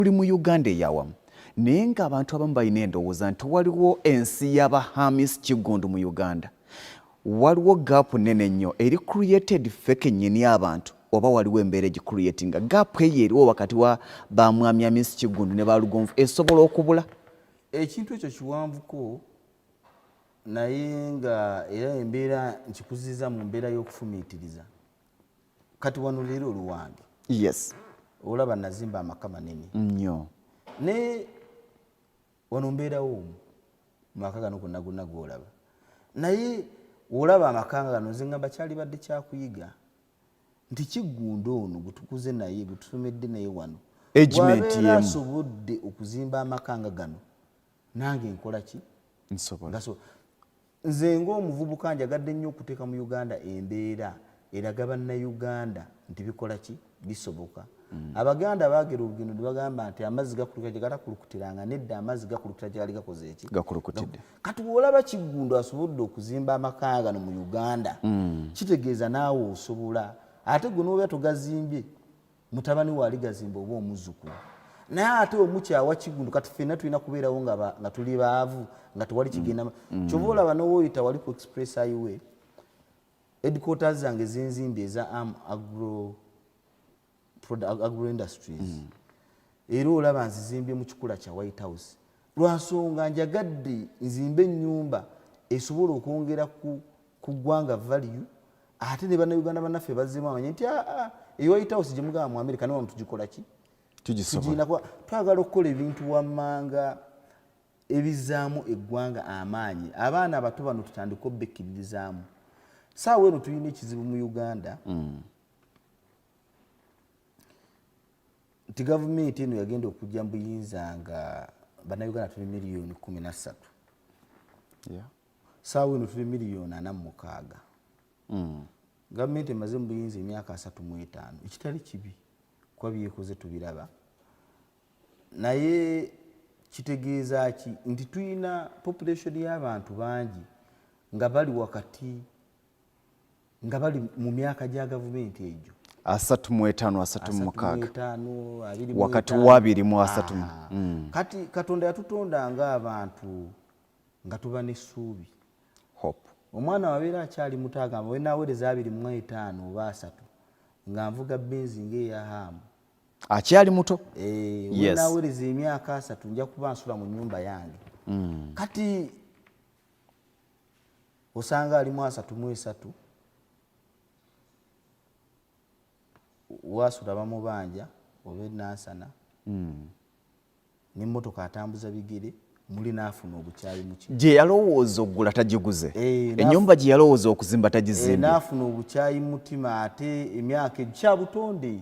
tuli mu Uganda eyawamu naye nga abantu abamu balina endowooza nti waliwo ensi yaba Hamis Kiggundu mu Uganda waliwo gaapu nene nnyo eri created ffe kennyini abantu oba waliwo embeera egicreatinga gaapu eyo eriwo wakati wa ba mwami Hamis Kiggundu ne ba Lugonvu esobola okubula ekintu ekyo kiwanvuko naye nga era embeera nkikuziza mu mbeera y'okufumiitiriza kati wano leero oluwange yes olaba nazimba amaka manene nnyo naye wano mbeerawo omu mumaka gano gonna gonna gwolaba naye olaba amaka nga gano nze ngamba kyali badde kyakuyiga nti kiggunda ono gwetukuze naye gwetusomedde naye wano asobodde okuzimba amaka nga gano nange nkola ki nsobola nze ng'omuvubuka njagadde nnyo okuteeka mu uganda embeera eraga bannayuganda nti bikola ki bisoboka mm. abaganda baagera olugendo ne bagamba nti amazzi gakulukira gye gatakulukutiranga nedda amazzi gakulukira gye gali gakoze eki gakulukutidde kati bw'olaba kiggundu asobodde okuzimba amaka gano mu uganda mm. kitegeeza naawe osobola ate gwe n'obeera togazimbye mutabani waali gazimba oba omuzukulu naye ate omukyawa kigundo kati fena tulina kubeerawo nga tuli baavu nga tewali mm. kigenda mm. kyova olaba nowoyita wali ku express highway edquarters zange zenzimbi eza am agro, agro industries mm. era olaba nzizimbye mu kikula kya white house lwa nsonga njagadde nzimbe ennyumba esobola okwongera ku ggwanga value ate ne bannayuganda bannaffe bazzemu amanye nti aa ah, ah, eyo white house gye mugamba mu amerika nawa mutugikola ki tugiinakuba twagala okukola ebintu wammanga ebizaamu eggwanga amaanyi abaana abato bano tutandika obbekkiririzaamu saawa eno tulina ekizibu mu uganda mm. nti gavumenti eno yagenda okujja mu buyinza nga bannayuganda tuli miliyoni kumi na ssatu saawa eno tuli miliyoni ana mu mukaaga hmm. gavumenti emaze mu buyinza emyaka asatu mu etaano ekitali kibi kuba byekoze tubiraba naye kitegeeza ki nti tulina population y'abantu bangi nga bali wakati nga bali mu myaka gya gavumenti egyo asatu mu etaano asatu mu mukaaga wakati wabiri mu asatu ah. mm. kati katonda yatutonda nga abantu nga tuba n'essuubi omwana wabeera akyali muto agamba wenawereza abiri mu etaano oba asatu nga nvuga benzi ngaeyahaamu akyali muto eh, wenawereza emyaka asatu nja kuba nsula mu nyumba yange mm. kati osanga alimu asatu mu esatu wasula bamubanja oba enansana hmm. nemotoka atambuza bigere muli nafuna obukyayi muki gye yalowooza okugula tagiguze eh, enyumba gye yalowooza okuzimba tagizimbe eh, nafuna obukyayi mutima ate emyaka ekyabutonde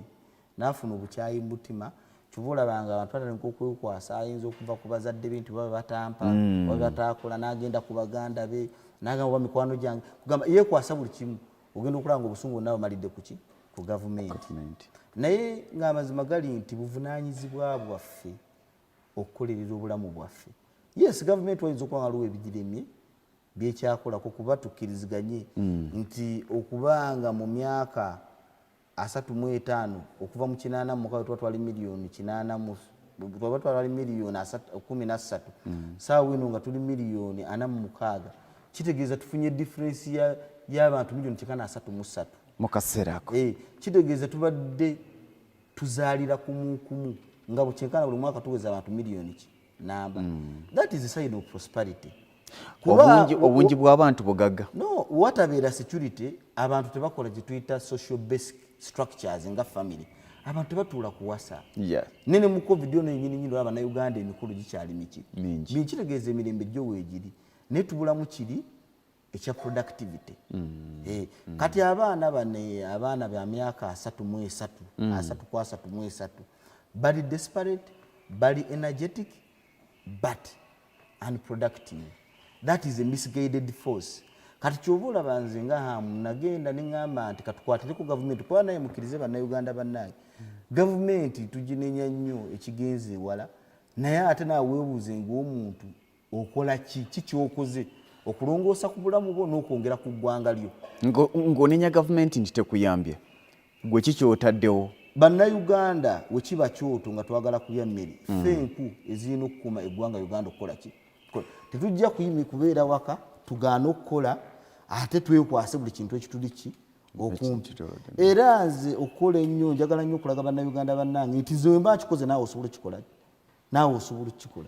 nafuna obukyayi mubutima kyova olaba nga abantu batandika okwekwasa ayinza okuva ku bazadde be nti baba batampa mm. oba batakola nagenda ku baganda be nagamba oba mikwano gyange kugamba yekwasa buli kimu ogenda okulaba nga obusungu bonna bamalidde kuki ku gavumenti naye ngaamazima gali nti buvunanyizibwa bwaffe okukolerera obulamu bwaffe yes gavumenti wayinza okuba nga luwa ebigiremye byekyakolako kuba tukkiriziganye mm. nti okuba nga mu myaka asatu mu etaano okuva mu kinaana mu mukaga tuba twali miliyoni kinaana mu tuba twali miliyoni kumi na ssatu mm. saawa eno nga tuli miliyoni ana mu mukaaga kitegeeza tufunye differensi y'abantu miliyoni kikana asatu mu ssatu mu kaseera ako eh, kitegeeza tubadde tuzaalira kumukumu nga bukyenkana buli mwaka tuweza abantu miliyoni ki namba mm. that is a sign of prosperity obungi bw'abantu bugagga no watabeera security abantu tebakola gyetuyita social basic structures nga family abantu tebatuula kuwasa yeah. nene mu covid ono yenyininyini olaba na uganda emikulu gikyali miki mingi kitegeeza emirembe gyo weegiri naye tubulamu kiri ekya productivity mm. Eh, mm. kati abaana bano eh, abaana ba myaka asatu mu esatu mm. asatu ku asatu mu esatu bali desperate bali energetic but unproductive that is a misguided force kati kyoba olaba nze nga hamu nagenda neŋamba nti katukwatire ku gavumenti kuba naye mukkirize bannayuganda bannange mm. gavumenti tuginenya nnyo ekigenze ewala naye ate nawebuuze ngaomuntu okola ki ki kyokoze okulongoosa ku bulamu bwo n'okwongera ku ggwanga lyo ng'onenya gavumenti nti tekuyambye gwe ki kyotaddewo bannayuganda wekiba kyoto nga twagala kulya mmere mm. fe enku ezirina okukuma eggwanga uganda okukola ki tetujja kuyimi kubeera waka tugaana okukola ate twekwase buli kintu ekituli ki okumpi era nze okukola ennyo njagala nnyo okulaga bannayuganda bannange nti zemba nkikoze naawe osobola okikola naawe osobola okukikola